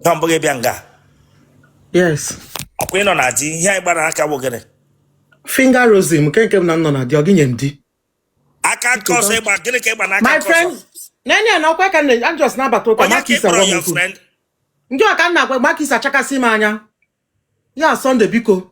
na mbụ gị bịa nga yes ọkwa ị nọ na di ihe ị gba aka bụ gịnị finger rosary m nke nke m na m nọ na di ọ gị nye m di aka nke ọzọ ị gba gịnị ka ị gba n'aka my nke ọzọ friend nene na ọkwa ka nne- I'm just na-abata ụka onye maka ka ị isa kpọrọ gwa m ya okwu friend ndị a ka m na-agwa maka isi achakasị m anya ya sọnde biko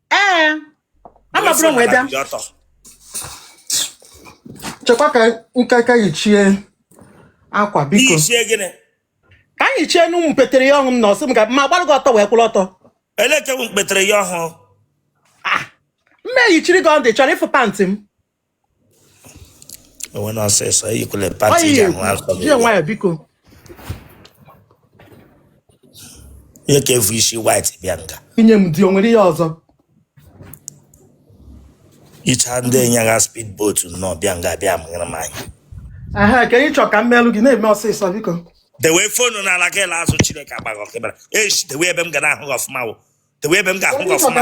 ee amabụrụ nwe bịa chekwa ka m ka yichie akwa biko yichie gịnị ka a yichie nụ ụmụ mpetere ya ọhụrụ m na ọ sị m ga ma gbara gị ọtọ wee kwụrụ ọtọ elekere mpetere ya ọhụrụ ah, m eyichiri gị ọ dị ị chọrọ ịfụ pant m enwe na ọsịsọ eyikwele pant iji ahụ akọ gị jee nwayọ biko ihe ka efu isi white bịa nga ị nye m di o nwere ihe ọzọ icha ndị anyagha speed boat nnọọ bịa nga bịa mụnyere m anya aha ka ị chọ ka m meelụ gị na-eme ọsịsọ biko dewe phone n'ala gị laa azụ chineke agba gị ọkụ ebe a echi dewe ebe m ga na-ahụ gị ọfụma wụ dewe ebe m ga-ahụ gị ọfụma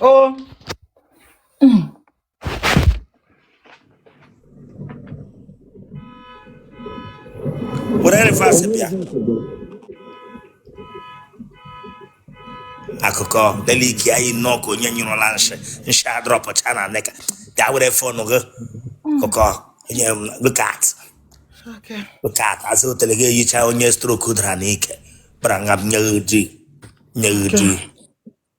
Oh. were reverse bịa akụkọ lee ike eyi nnọọ ka onye nyụrụla nshị nshị adrọpụcha na knicker gaa were fon gị akụkọ onye look at Okay. look at azụ otele gị eyicha onye stroke dara n'ike gbara nga m nye gị di nye gị di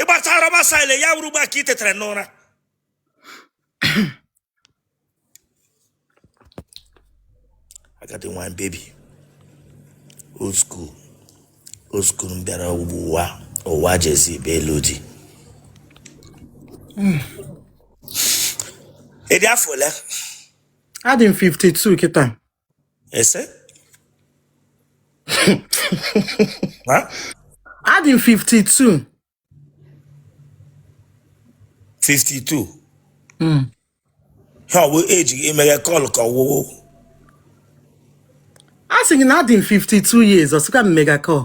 ị gbachaa rubber style ya wuru ugbu a ka ị tetara n'ụra agadi nwa baby old school old school m bịara ugbu ụwa ụwa jezi bịa ịlụ di ị dị afọ ole adị m 52 kịta Ị sị? What? Adị m 52. 52. Mm. Ha ọ wụ age gị emega call ka ọ wụ. A sị gị na adị m 52 years, ọ sịkwa m mega call.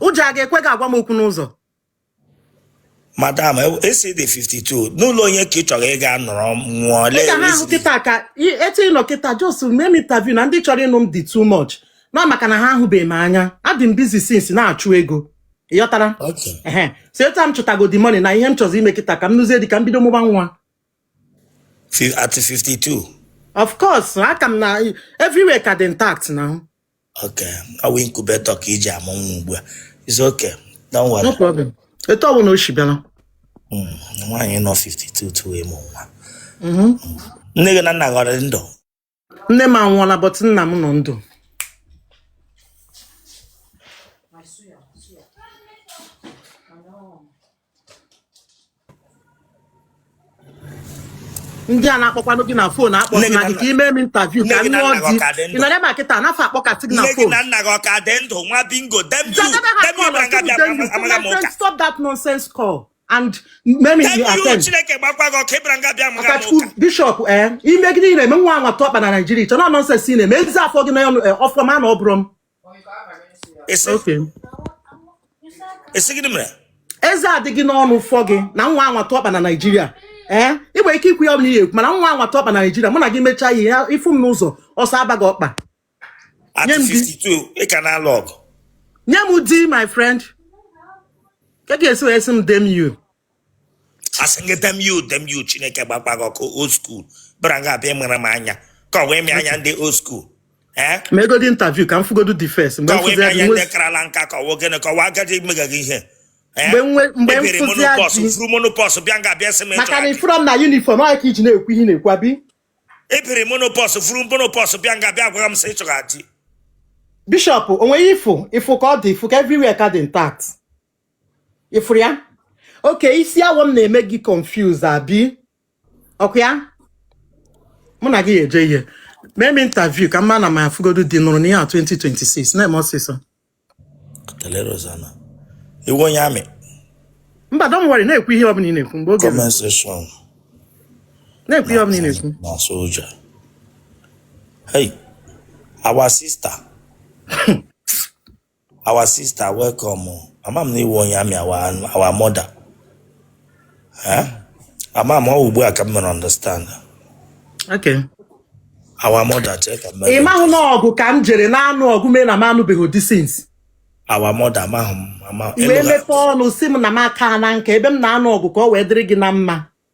ụjọ a ga-ekwe gị agwa m okwu n'ụzọ madam ị sị ị dị 52 n'ụlọ onye ka ị chọrọ ịga nọrọ nwụọ lee ka ha ahụ kịta ka etu ị nọ kịta just mee m interview na ndị chọrọ ịnụ m dị too much na maka na ha ahụbeghị m anya adị m busy since na-achụ ego ị ghọtara so etu a m chụtago the money na ihe m chọzi ime kịta ka m nụzie di ka m bido mụba nwa at 52 of course aka m na everywhere ka dị intact na Okay. Ọ bụ incubator ka e ji amụ nwa ugbu a. It's okay. Don't worry. no problem etu ọbụla o si bịara Mm, Nwaanyị nọ 52 tuo ịmụ nwa. Mhm. Nne gị na nna gị ọ dị ndụ? nne m anwụọla but nna m nọ ndụ ndị a na-akpọkwanụ gị na phone akpọ na gị ka i mee m interview ka m nụọ di ị nọrọ ebe a kịta a na fa akpọkatị gị na phone stop that nonsense call and make you attend bishop eh imegide ị na-eme nwa anwa tụ ọkpa na Nigeria chọ na nonsense ị na-eme ezi afọ gị na ọfọma na ọ bụrụ m Eze. Okay. Eze gịnị mere? eze adịghị n'ọnụ fọ gị na nwa anwa tụ ọkpa na Nigeria ee ị nwere ike ikwu ihe ọbụla ị ya-ekwu mana nwa anwa tụ ọkpa na Nigeria mụ na gị mechaa ihe a ị fụ m n'ụzọ ọsọ abaa gị ọkpa At 52, ị ka na-alụ ọgụ. nye m di my friend ka ị ga-esi wee sị m damn you asị gị damn you damn you chineke gbakwa gị ọkụ old school bịa nga a bịa mara m anya ka ọ wee mee anya ndị old school ee meegodị interview ka m fụgodu the first mgbe ka ọ wee mee anya ndị mfụzi karala nka ka ọ wee gịnị ka ọ wee agadi mega gị ihe Ee? Mgbe nwe- mgbe Ebiri mfụzi menopause, adị. furu menopause bịa nga a bịa sị m maka na ịchọrọ ị fụrọ m na uniform ọ ka i ji na-ekwu ihe ị na-ekwu abi ebiri menopause furu menopause bịa nga a bịa gwara m sị ị chọrọ di bishop onweghị ifụ ifụ ka ọ dị ị fụ ka everywhere ka dị intact ị fụrụ ya okay isi awọ m na-eme gị confuse abi ọkwa ya mụ na gị ga-eje ihe mee m interview ka m mara ma afụgodu di nụrụ n'ihe a 2026 na-eme ọsịsọ Kelere Ozana. Ị wụ onye army, mba don't worry na-ekwu ihe ọbụla ị na-ekwu mgbe oge ruru comment section na-ekwu ihe ọbụla ị na-ekwu na soldier. Hey, our sister. our sister welcome o. ama m na ị wụ onye army our our mother Eh? ama m ọ ugbu a ka m mere understand Okay. our mother chee ka m mere ị mahụ na ọgụ ka m jere na-anụ ọgụ mee na m anụbeghị di since our mother amaghị m ama wee ịnụla- mepee ọnụ sị m na m akana nka ebe m na-anụ ọgụ ka ọ wee dịrị gị na mma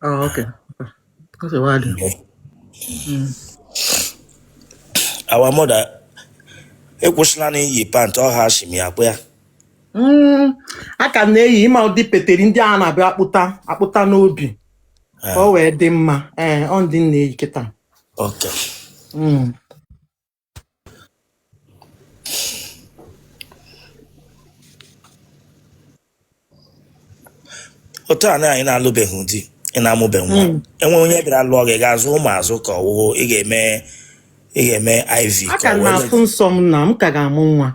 Oh, okay. That's a while. Mm. Our mother, ị kwụsịla n'iyi pant ọ ha shimi akpụ ya. Mm, a ka m na-eyi ị ma ụdị peteri ndị a na-abịa akpụta akpụta n'obi ka o wee dị mma ee ọ ndị m na-eyi kịta Okay. Mm. otu a anyị na-alụbeghị di ị na-amụbeghị nwa hmm. e nwee onye bịara lụọ gị ga-azụ ụmụ azụ ka ọ wụ ị ga-eme ị ga-eme IV a ka na-afụ nsọ m na m ka ga-amụ nwa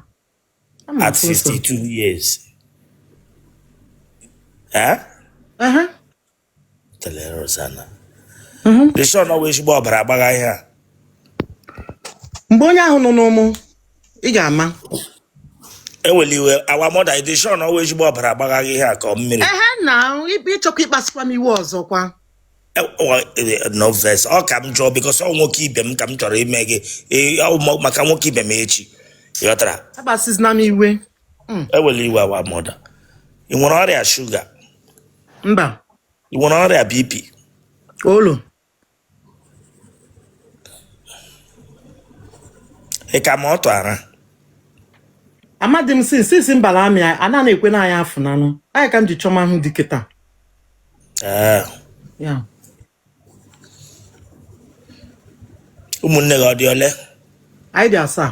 at 52 years eh? mgbe onye ahụ nọ n'ụmụ ị ga-ama ewela iwe our mother ị dị sure na ọ wụ ezigbo ọbara agbagha gị ihe a ka mmiri ehe na ibe ị chọkwa ịkpasịkwa m iwe ọzọkwa e, e, no vex ọ ka m jụọ because ọ nwoke ibe m ka m chọrọ ime gị e, maka nwoke ibe m echi ị ghọtara akpasịzina m iwe Mm. ewela iwe our mother ị nwere ọrịa shuga mba ị nwere ọrịa BP olo ị ka ma ọtụ ara amadị m sin since m bala army a na na-ekwe na anyị afụ nanụ anyị ka m ji chọma ahụ di kịta ee ya ụmụnne gị ọ dị ole anyị dị asaa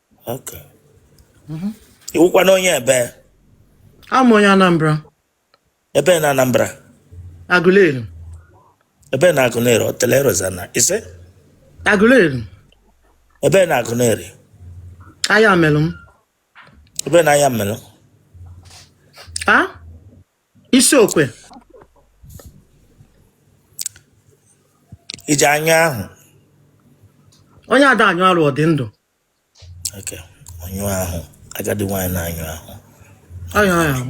Okay. Ị wụkwanụ onye ebe Awụ m onye Anambra, ebe na Anambra Aguleri, ebe na Aguleri Otele Rozana ị sị Aguleri, ebe na Aguleri Ayamelum. ebe na Ayamelum A? Isiokwe. ị ji anyụ ahụ Onye ada anyụ arụ ọ dị ndụ. Okay. Anyụ ahụ. Agadi nwaanyị na-anyụ ahụ. Anya anya m.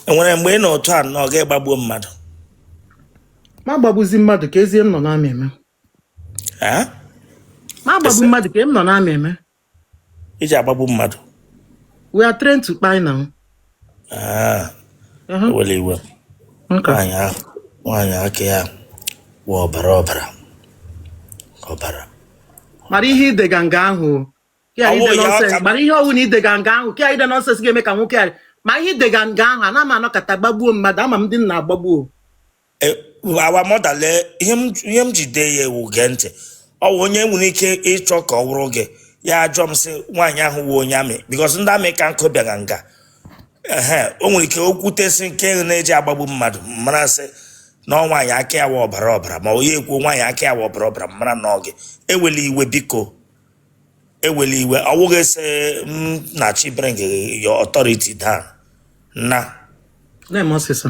Enwere mgbe ị nọ otu a na ọ ga-agbagbuo mmadụ? Ma gbagbuzi mmadụ kezi ihe m nọ na army eme. Eh? Ma gbagbu Ese- mmadụ ka m nọ na army eme. ị ji agbagbu mmadụ we are trained to kpai na ah, ewela iwe nwaanyị ahụ nwaanyị aka ya bụ ọbara ọbara ọbara mara ihe ị dega nga ahụ kịa ide nonsense mara ihe ọ wụ na ị dega nga ahụ kịa ide nonsense ga-eme ka nwoke a ma ihe ị dega nga ahụ ana m anọkata gbagbuo mmadụ ama m ndị m na-agbagbu Eh, our mother lee ihe m ihe m ji dee ya wụ gee ntị ọ wụ onye nwere ike ịchọ ka ọ wụrụ gị ya ajụọ m sị nwaanyị ahụ wụ onye amị because ndị amị ka nkụ bịara nga ehe o nwere ike okwute si nke na-eji agbagbu mmadụ mara sị na ọ nwaanyị aka ya wụ ọbara ọbara ma onye ekwu nwaanyị aka ya wụ ọbara ọbara mara na ọ gị ewela iwe biko ewela iwe ọ wụghị sị m na chi bring your authority down na na-eme ọsịsa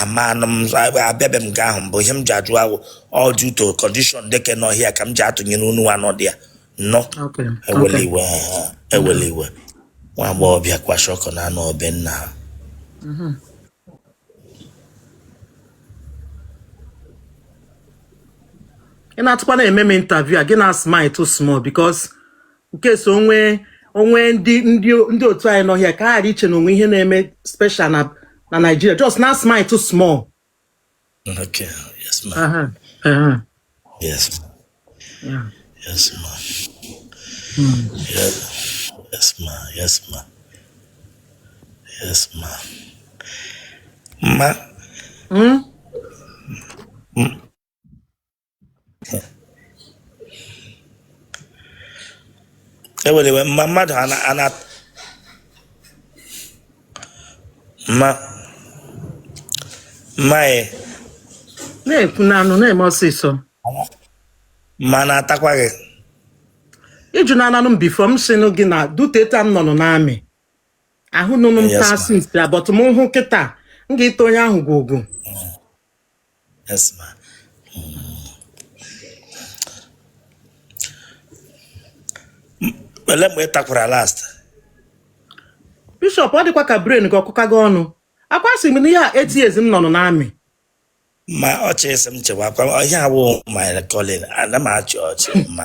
amanụ m abịabe m nga ahụ mbụ ihe m ji ajụ ahụ all due to condition dị ke n'ọhịa ka m ji atụnyere unu anọ dị ya nnọ Okay. ewele Okay. iwe ha, ewele iwe nwa agbọghọbịa kwasha ọkụ na-anọ be nna ha Ị na-atụkwa na-eme m interview a gị na smile too small because nke so onwe onwe ndị ndị ndị otu anyị nọ ọhịa ka ha ghara iche na o nwe ihe na-eme special na na Naịjirịa just na smile too small Okay, yes, ma. Aha, aha, Yes, ya. yes, ma. Yes, yes, ma. Yes, ma. Yes, ma. Ma, Mm? ewele iwe mma mmadụ ana ana mma mma e na-ekwu n'anụ na-eme ọsịsọ mma na-atakwa gị ịjụ na ananụ m before m sịnụ gị na due to that m nọnụ n'amị ahụ nụnụ m Yes, taa ma'am. since but m hụ kịta m ga-ata onye ahụ gwogwo Yes, ma. Ele mgbe ị takwara last? Bishop ọ dịkwa ka brain gị ọkụka gị ọnụ akwa sị m na ihe a 8 years m nọnụ n'amị Ma ọ chi sị m chewakwa ihe a wụ my calling ana m achị ọchị ma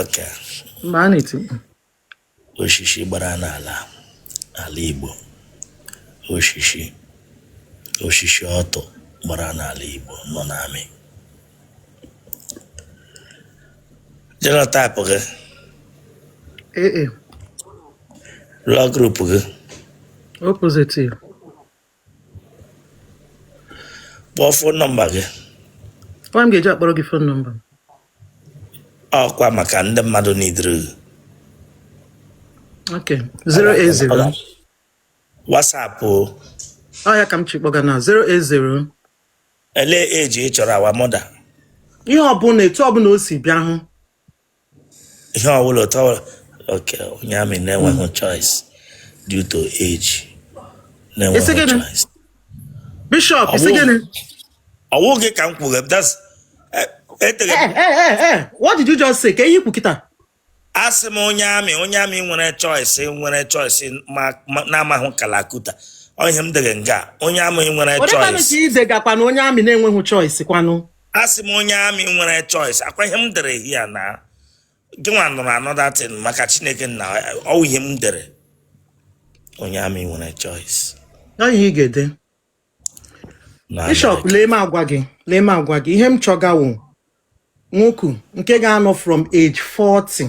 Okay. Ma a na-eti mkpu. Oshishi gbara n'ala ala Igbo. Oshishi oshishi ọtụ gbara n'ala Igbo nọ n'amị. Genotype gị. AA. Blood group gị. O positive. kpọọ phone number gị Onye m ga-eji akpọrọ gị phone number m? ọkwa maka ndị mmadụ needịrị gị Ok, 080. WhatsApp Ọ ya ka m chi kpọga na 080. ele age ị chọrọ our mother Ihe ọbụla etu ọbụla o si bịa hụ ihe ọbụla otu ọbụla okay onye amị na-enweghị choice due to age na-enweghị Ị sị gịnị? choice bishop ị sị Ọwụ- gịnị ọ wụghị ka m kwuru that's e- etere Eh, eh, eh, eh, eh, what did you just say ka ihe i kwu kịta asị m onye amị onye amị nwere choice nwere choice ma- ma- na-amaghị kalakuta ọ ihe m dere nga onye amị nwere onye kwanụ choice ka i dega kwanụ onye amị na-enweghị choice kwanụ asị m onye amị nwere choice ọ kwa ihe m dere here na gị nwa nụrụ another thing maka chineke na ọ wụ ihe m dere onye amị nwere choice ihe ị ga-ede bishop lee m agwa gị lee m agwa gị ihe m chọga wụ nwoke nke ga-anọ from age 40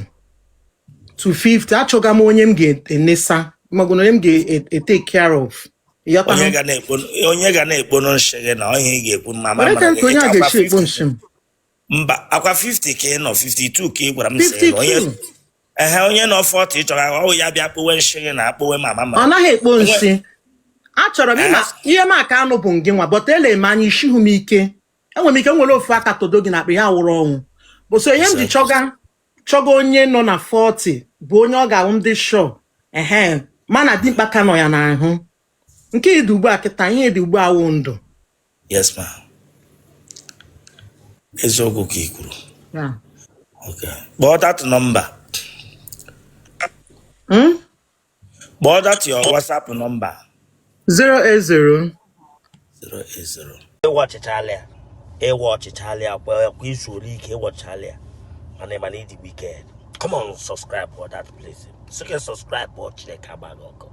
to 50 achọga m onye m ga-enesa ma ọ bụ na onye m ga-etake care of onye ga na-ekpo onye ga na-ekpono nshị gị na onye ị ga-ekwu mma ma mara gị onye a ga-eshi ekpo nshị m mba ọ kwa 50 ka ị nọ 52 ka ị gwara m sị na onye ehe onye nọ 40 chọga ọ ya bịa kpowe nshị gị na akpowe mama ma ọ naghị ekpo nshị achọrọ m ịma ihe m aka anụ bụ ngị nwa but ele m anya ishihu m ike enwere m ike nwere ofu aka todo gị n'akpa ya wụrụ ọnwụ bụ so ihe m ji chọga chọga onye nọ na 40 bụ onye ọ ga-ahụ ndị shọ ehe mana dimkpa ka nọ ya n'ahụ nke dị ugbu a kịta ihe dị ugbu a wụ ndụ yes ma eziokwu ka i kwuru kpọọ that number hmm? kpọọ that your whatsapp number 080 080 ị watchichala ya ị watchichala ya kwa kwa izu ole ike ị watchichala ya mana ị ma na ị dị wicked come on subscribe for that place soke subscribe ọ chineke agba gị ọkụ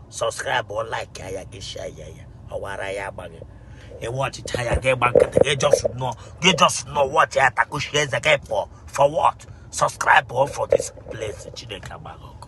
subscribe ọ like ya ya gị share ya ya ọwara ya agba gị ị watchicha ya gị gba nkịtị gị just nọ gị just nọ watch ya takushi eze gị pụọ for what subscribe ọ for this place chineke agba gị ọkụ